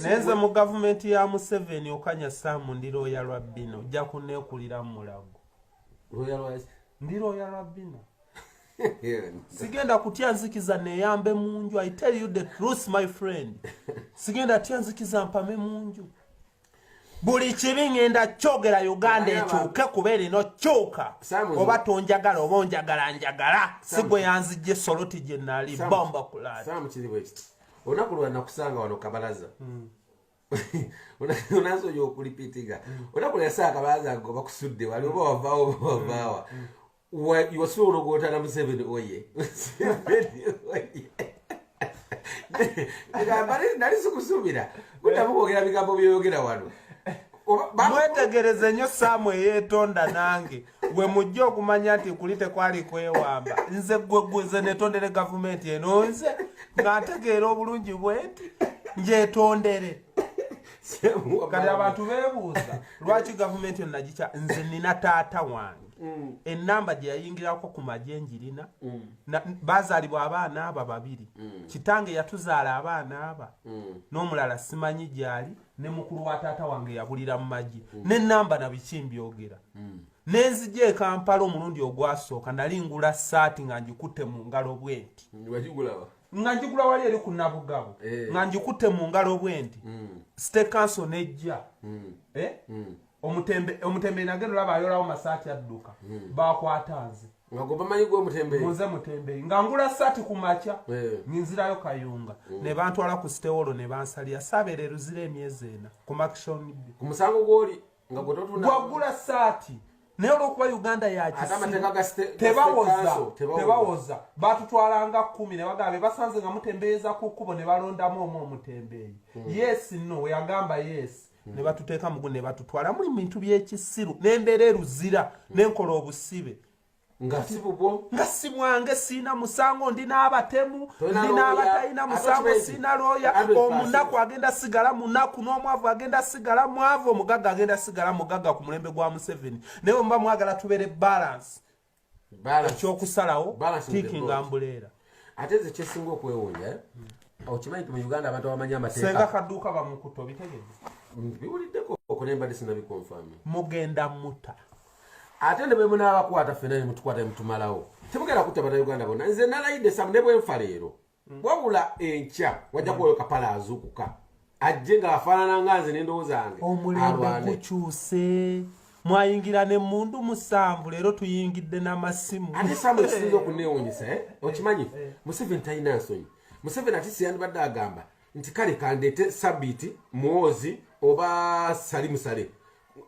naye nze mu gavumenti ya museveni okanya saamu ndi looya lwa bino ojja kuneekulira mu mulago ndi looya lwa bino sigenda kutya nzikiza neyambe mu nju i tell you the truth my friend sigenda tya nzikiza mpame mu nju buli kibi ngenda kyogera uganda ekyuke kuba erino kyuka oba tonjagala oba onjagala njagala sigwe yanzijja esoloti gye nali bomba kulaaolunaku lwa nakusanga wano kabalaza hmm. onasoja okulipitiga hmm. onaku lwa saa kabalaza ngoba kusudde wali oba wavaawo oba wavaawa hmm. wasiba ologotana museveni oye nali sikusubira kuddamu kwogera bigambo byoyogera wano mwetegereze nnyo saamu eyeetonda nange we mujja okumanya nti kuli tekwali kwewamba nze gwegweze netondere gavumenti eno nze nga ntegeera obulungi bwenti njetondere kati abantu bebuuza lwaki gavumenti eno nagikya nze nina taata wange mm. enamba gyeyayingirako ku magye njirina mm. bazalibwa abaana aba babiri mm. kitange yatuzaala abaana aba mm. n'omulala simanyi gyali ne mukulu wa taata wange yabulira mu magye mm. nenamba nabiki mbyogera mm. nenzija ekampala omulundi ogwasooka nali ngula saati nga ngikutte mu ngalo bwenti nga njigula wali eri ku nabugabo eh. nga njikutte mu ngalo bwenti mm. state council nejja mm. eh? mm. omutembe omutembe nage lulaba ayolawo masaati adduka hmm. bakwata nze nga gwe bamanyi gwe omutembe muze mutembe nga ngula saati ku makya eh. ninzirayo kayunga hmm. ne bantwala ku sitewolo ne bansalira sabeera eruzira emyezi ena ku makishoni ku musango gwoli nga gwe totunda gwagula saati naye olwokuba uganda yakitebawoza batutwalanga kumi nebagamba basanze nga mutembeeza ku kkubo ne balondamu omu omutembeeyi hmm. yes no weyagamba yes ne batuteeka mugu ne batutwala muli bintu by'ekisiru n'embeera eruzira n'enkola obusibe nga si bubwo nga si bwange siina musango ndi n'abatemu ndi n'abatalina musango siina looya omunaku agenda sigala munaku n'omwavu agenda sigala mwavu omugagga agenda sigala mugagga ku mulembe gwa museveni naye omuba mwagala tubeere balansi ekyokusalawo tiiki nga mbuleera ate nze kyesinga okwewunya eh? hmm. okimanyi ti mu uganda abantu abamanyi amateekasenga kaduuka bamukuta obitegede biwuliddeko okulembadde sinabikonfami mugenda muta ate ne bwemunaabakwata fena nemutukwata nemutumalawo temugenda kutta bana uganda bona nze nalayidde samu ne bwenfa leero wabula enkya wajja kubayo kapala azuukuka ajje nga afaanana nga nze n'endowooza yange omulembe gukyuse mwayingira ne mundu musanvu leero tuyingidde n'amasimu ate samu ekisinza okuneewunyisa eh? okimanyi eh. museveni talina nsonyi museveni ati siyandibadde agamba nti kale kandeete sabiiti mwozi oba sali musale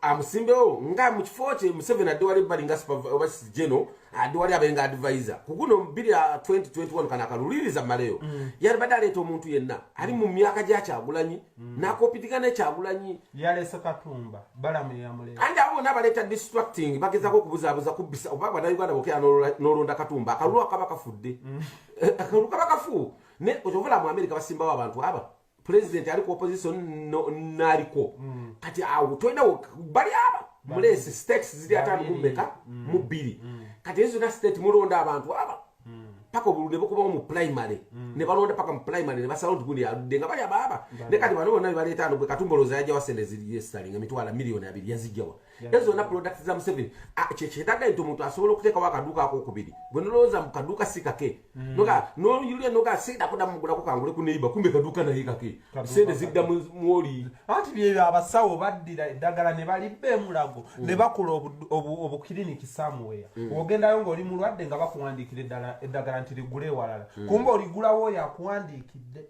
amusimbewo nga mu kifo kye museveni adde wali ebbali nga oba geno adde wali abenga advisor ku guno biri 2021 kana akaluliriza maleyo mm. yali badde aleeta omuntu yenna ali mu myaka gya kyagulanyi mm. nakopitigana ekyagulanyi yalese katumba balamu yamuleeta andi abo bona abaleeta distracting bagezako okubuzaabuza kubbisa oba banauganda bokera nolonda katumba akalulu akaba kafudde mm. akalulu kaba kafu ne okyovulamu amerika basimbawo abantu aba president ali ku opposition naliko mm. kati awo twenda bali aba mulesi states ziri atano mumeka mm. mu bbiri mm. kati ezo zona state mulonda abantu aba paka obululu nebukubawo mu primary nebalonda paka mu primary nebasalawo nti gundi aludde nga bali abaaba ne kati bano bonna bebaleeta ano gwe katumboloza yajawa sente ziriesitalinga emitwala miliyoni abiri yazijjawa ezo zonna products za museveni ah, kyekyeetaga nti omuntu asobola okuteekawo akaduuka akokubiri gwe nolowooza mu kaduuka si kake mm. noga noyulira noga seeda kuda mugulako kangule ku neiba kumbe kaduuka naye kake seede zidda mwoli anti byebyo abasawo baddira eddagala ne balibba emulago mm. ne bakola obukiriniki samuweya mm. ogendayo ngaoli mulwadde nga bakuwandiikira eddagala nti ligule ewalala kumbe oligulawo oyo akuwandiikidde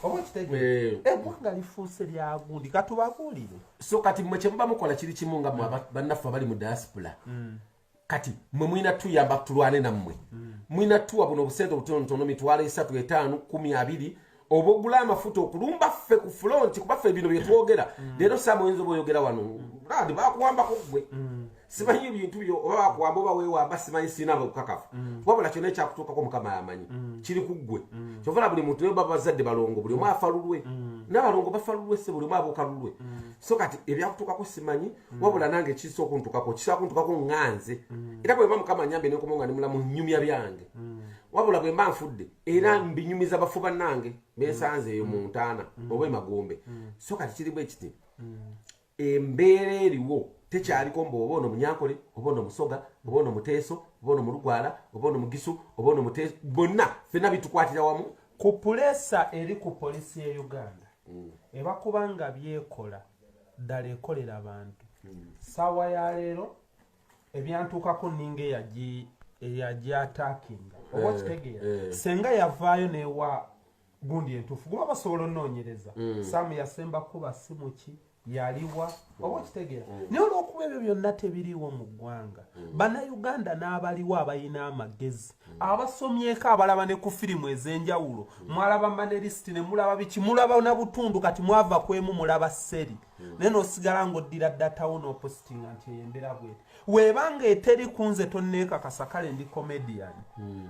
oba okitegeera eggwanga eh, eh, lifuuse lyagundi katubabuulire so kati mwe kyemuba mukola kiri kimu nga mwe bannaffe abali mu diaspora mm. kati mwe mulina tuyamba tulwane nammwe mm. mulina tuwa buno obusente obutonotono mitwalo esatu etaano kumi abiri oba ogula amafuta okulumba ffe ku fulonti kuba ffe bino byetwogera mm. leero saama oyinza oba oyogera wano bakuwambako gwe simanyi ebintu byo oba bakuwamba oba wewamba simanyi sirina bukakafu mm. wabula kyona ekyakutuukako mukama yamanyi mm. kiri ku ggwe mm. kyovala buli muntu naye babazadde balongo buli omu afa lulwe nabalongo bafa lulwe se buli omu abuuka lulwe so kati ebyakutuukako simanyi wabula nange kisa okuntukako kisa okuntukako nganze era bwemba mukama nyambe nekomo nga nimulamu nyumya byange wabula bwemba nfudde era mbinyumiza bafu bannange bensanze eyo mu ntaana oba emagombe so kati kiri bwekiti embeera eriwo tekyaliko mbu oba ono munyankole oba ono musoga oba ono muteeso oba ono mulugwala oba ono mugisu oba ono muteeso bonna fena bitukwatira wamu ku pulesa eri ku polisi ya uganda mm. ebakuba nga byekola ddala ekolera abantu mm. saawa ya leero ebyantuukako ninga eyagi eyagyatakinga oba okitegeera eh, eh. senga yavaayo newa gundi entuufu guba basobola onoonyereza mm. saamu yasemba kuba simuki yaliwa mm. oba okitegeera mm. naye olwokuba ebyo byonna tebiriiwo mu ggwanga bannayuganda n'abaliwo abalina amagezi abasomyeko abalaba ne ku firimu ez'enjawulo mwalaba manerisiti ne mulaba biki mulaba na butundu kati mwava ku emu mulaba seri naye n'osigala ng'oddira datawo n'opositinga nti eyo embeera bwete weebanga eteri ku nze tonneekakasa kale ndi komediyani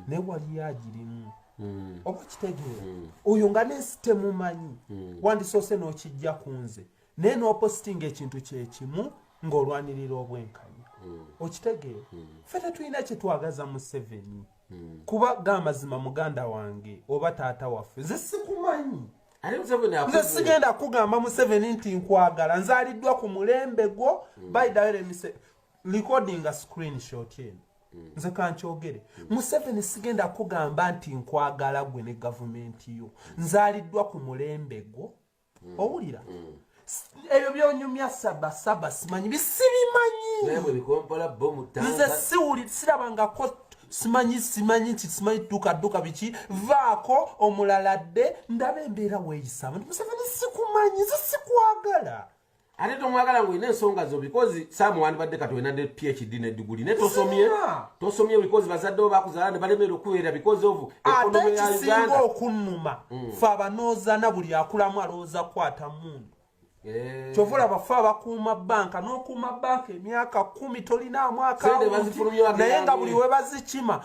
naye waliyo agirimu mm. oba kitegeera mm. oyo nga nensi temumanyi mm. wandisoose n'okijja ku nze naye n'opositinga ekintu kyekimu ng'olwanirira obwenkanya mm. okitegeera mm. fe tetulina kyetwagaza museveni mm. kuba ga amazima muganda wange oba taata waffe nze sikumanyi nze sigenda kugamba museveni nti nkwagala nzaliddwa ku mulembe gwo mm. baidawere mise recording a screenshot eno mm. nze kankyogere mm. museveni sigenda kugamba nti nkwagala gwe ne gavumenti yo mm. nzaliddwa ku mulembe gwo mm. owulira mm. ebyo byonyumya saba saba simanyi bisibimanyi nze siwuli sirabangako simanyi simanyi nti simanyi dduka dduka biki vaako omulala dde ndaba embeera weeyisamu nti museveni sikumanyi ze sikwagala ate tomwagala nga olina ensonga zo bikozi saamu wandibadde kati olina ne phd ne diguli naye tosomye tosomye bikozi bazadde bo bakuzala ne balemera okuweera bikozi ovu ekonomi ya uganda okunnuma mm. fe abanoozana buli akulamu alowooza kukwata mundu eh. kyova olaba fe abakuuma banka n'okuuma banka emyaka kumi tolinaamu akanaye nga buli webazikima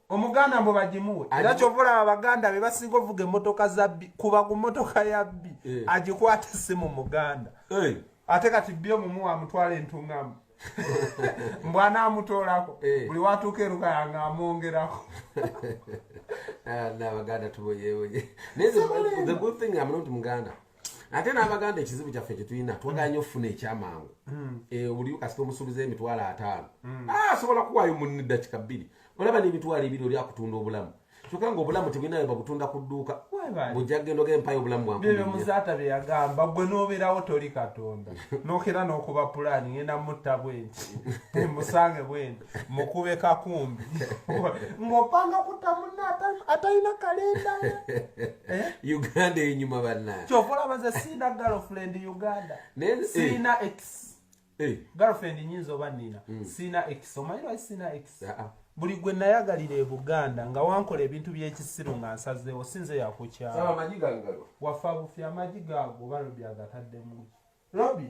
omuganda mbu bagimuwe era kyova olaba baganda be basinga ovuga emotoka zabbi kuba ku motoka yabbi eh. agikwata esimu muganda eh. ate kati bbi omumu amutwala entungamu mbu anaamutoolako eh. buli watuuka erukaya nga amwongerako ah, nabaganda tuboyeboye naye the good thing am not muganda ate n'abaganda ekizibu kyaffe kyetulina twagala nyo okufuna ekyamangu hmm. eh, oliyo kasita omusuubiza emitwalo ataano hmm. ah, asobola kuwaayo munni dakika bbiri olaba n'emitwalo ebiri oli akutunda obulamu kyokka nga obulamu tebulinayo babutunda ku dduuka bujja kugenda ogenda empayo obulamu bwanmuzaata bye yagamba gwe n'obeerawo toli katonda nokera n'okuba pulaani ngenda mutta bwenti emusange bwenti mukube kakumbi ngopanga kuta muna atalina kalenda eh? uganda enyuma bana kyovolabaza siina girlfriend uganda eh. siina ex eh. girlfriend nyinza oba nina hmm. siina ex omanyirwa siina ex ah, ah. buli gwe nayagalira ebuganda nga wankola ebintu byekisiru nga nsazeewo sinze yakukyala wafa bufi amagi gaago oba lobi agataddemu lobi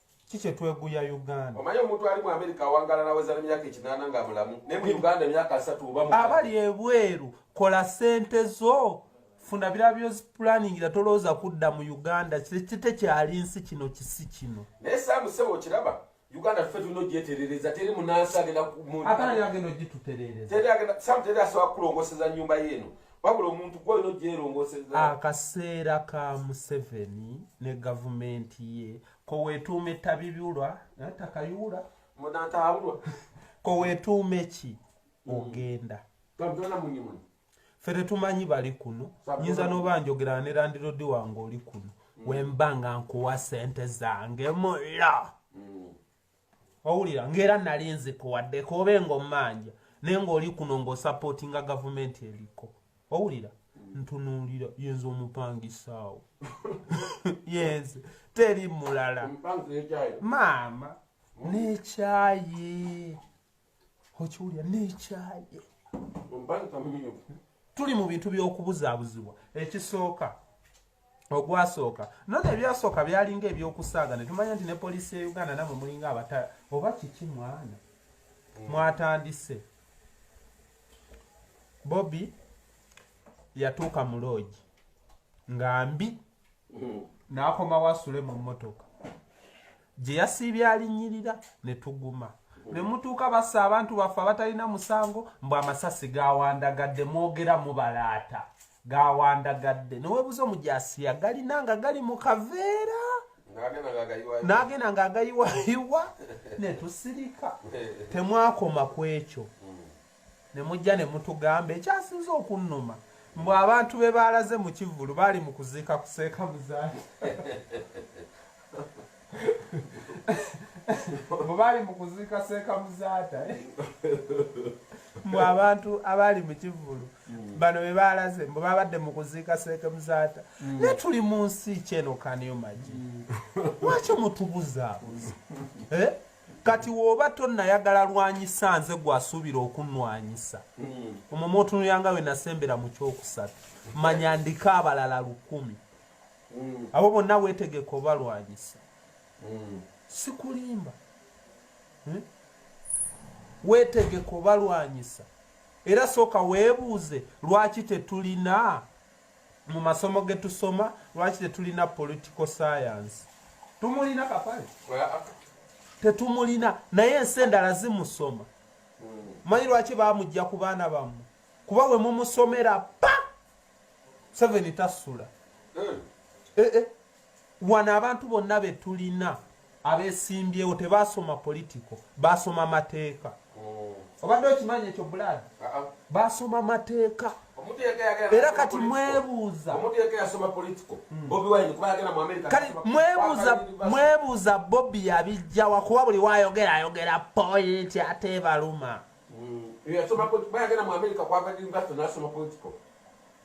ki kyetweguya uganda omanyi omuntu ali mu amerika awangala naweza nemyaka ekinaana nga mulamu naye mu uganda emyaka asatu oba abali ebweru kola sente zo funa birala byozipulaningira tolowooza kudda mu uganda tekyali nsi kino kisi kino naye samusebo okiraba uganda tufe tulina ogyeterereza teri munansi agenda agenda ogituterereza teri asobola kulongoseza nyumba yeeno wabula omuntu gwe olina ogyerongoseza akaseera ka museveni ne gavumenti ye kowetuuma ettabibiulwa natakayuula munataabulwa kowetuuma eki hmm. ogenda fe tetumanyi bali kuno nyinza noba njogera ne landirodi wange oli kuno hmm. wemba nga nkuwa sente zange mulla owulira ng'era nali nzikuwaddeko oba eng'ommanja naye ng'oli kuno ng'osapootinga gavumenti eriko owulira ntunuulira yenze omupangisaawo yenze teri mulala maama n'ekyayi okiwulira nekyaye tuli mu bintu by'okubuzaabuzibwa ekisooka ogwasooka nona ebyasooka byalinga ebyokusaaga ne tumanya nti ne poliisi ya uganda namwe mulinga abata oba kiki mwana mm. mwatandise bobi yatuuka mu loogi nga mbi n'akomawo asule mu mmotoka gye yasiibye alinyirira ne tuguma ne mutuuka basa abantu baffe abatalina musango mbu amasasi gawandagadde mwogera mubalaata gawandagadde newebuza omujasiya galina nga gali mu kaveera n'agenda nga agayiwayiwa ne tusirika temwakoma ku ekyo ne mujja ne mutugamba ekyasinze okunnuma mbu abantu be baalaze mu kivvulu baali mu kuziika kuseeka muzaali mbu baali mu kuziika seeka muzaata eh? mbu abantu abaali mu kivvulu mm. bano be baalaze mbu babadde mu kuziika seeka muzaata mm. naye tuli mu nsi kyeno kaniyo magi mm. lwaki mutubuzabuza eh? kati woba tonayagala lwanyisa nze gwasuubira okunwanyisa hmm. omwo mwotunuyanga we nasembera mu kyokusatu manya ndiko abalala lukumi hmm. abo bonna wetegeka obalwanyisa hmm. sikulimba hmm? wetegeka obalwanyisa era sooka weebuuze lwaki tetulina mu masomo ge tusoma lwaki tetulina political science tumulina kapale tetumulina naye ensi endala zimusoma manyi lwaki bamujja ku baana bammwe kuba we mumusomera pa seveni tasula hmm. eh, eh. Wano abantu bonna be tulina abesimbyewo tebaasoma politiko baasoma mateeka oh. obadde okimanyi ekyo bulaadi uh-uh. baasoma mateeka era kati mwebuuza hmm. mwebuuza bobi yabijjawa kuba buli wayogera ayogera pointi ate ebaluma hmm.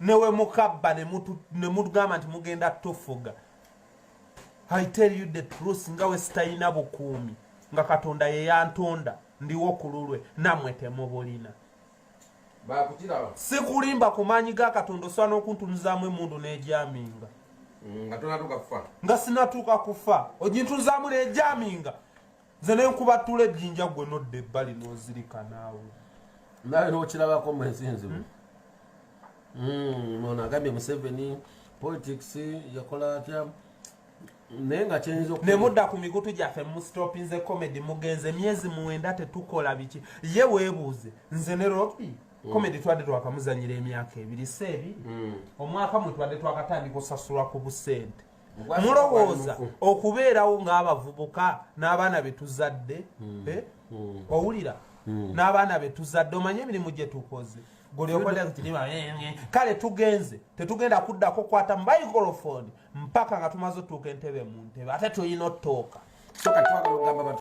newe mukabba nemutugamba nti mugenda tofuga i tell you the truth nga wesitalina bukuumi nga katonda yeyantonda ndiwo ku lulwe namwe temubulina sikulimba ku maanyi ga katonda osobola n'okuntunuzaamu emundu n'egyaminga nga sinatuuka kufa ogintunuzaamu n'egyaminga nze nenkubatula ejjinja gwe nodda ebbali nozirika naawe nawe nokirabako mwensi nzibu hmm? hmm, ono agambye museveni politics yakola atya naye nga kyenyinza ne mudda ku mikutu gyaffe mustopinze comedy mugenze emyezi mwenda tetukola biki ye weebuuze nze ne ropi Mm. komedi twadde twakamuzanyira emyaka ebiri seebi mm. omwaka mwe twadde twakatandika osasulwa ku busente mulowooza okubeerawo ng'abavubuka n'abaana be tuzadde hmm. Eh? Hmm. owulira hmm. n'abaana be tuzadde omanye emirimu gye tukoze eh, kale tugenze tetugenda kuddako kukwata mubaikolofoni mpaka nga tumaze otuuka entebe mu ntebe ate tulina otooka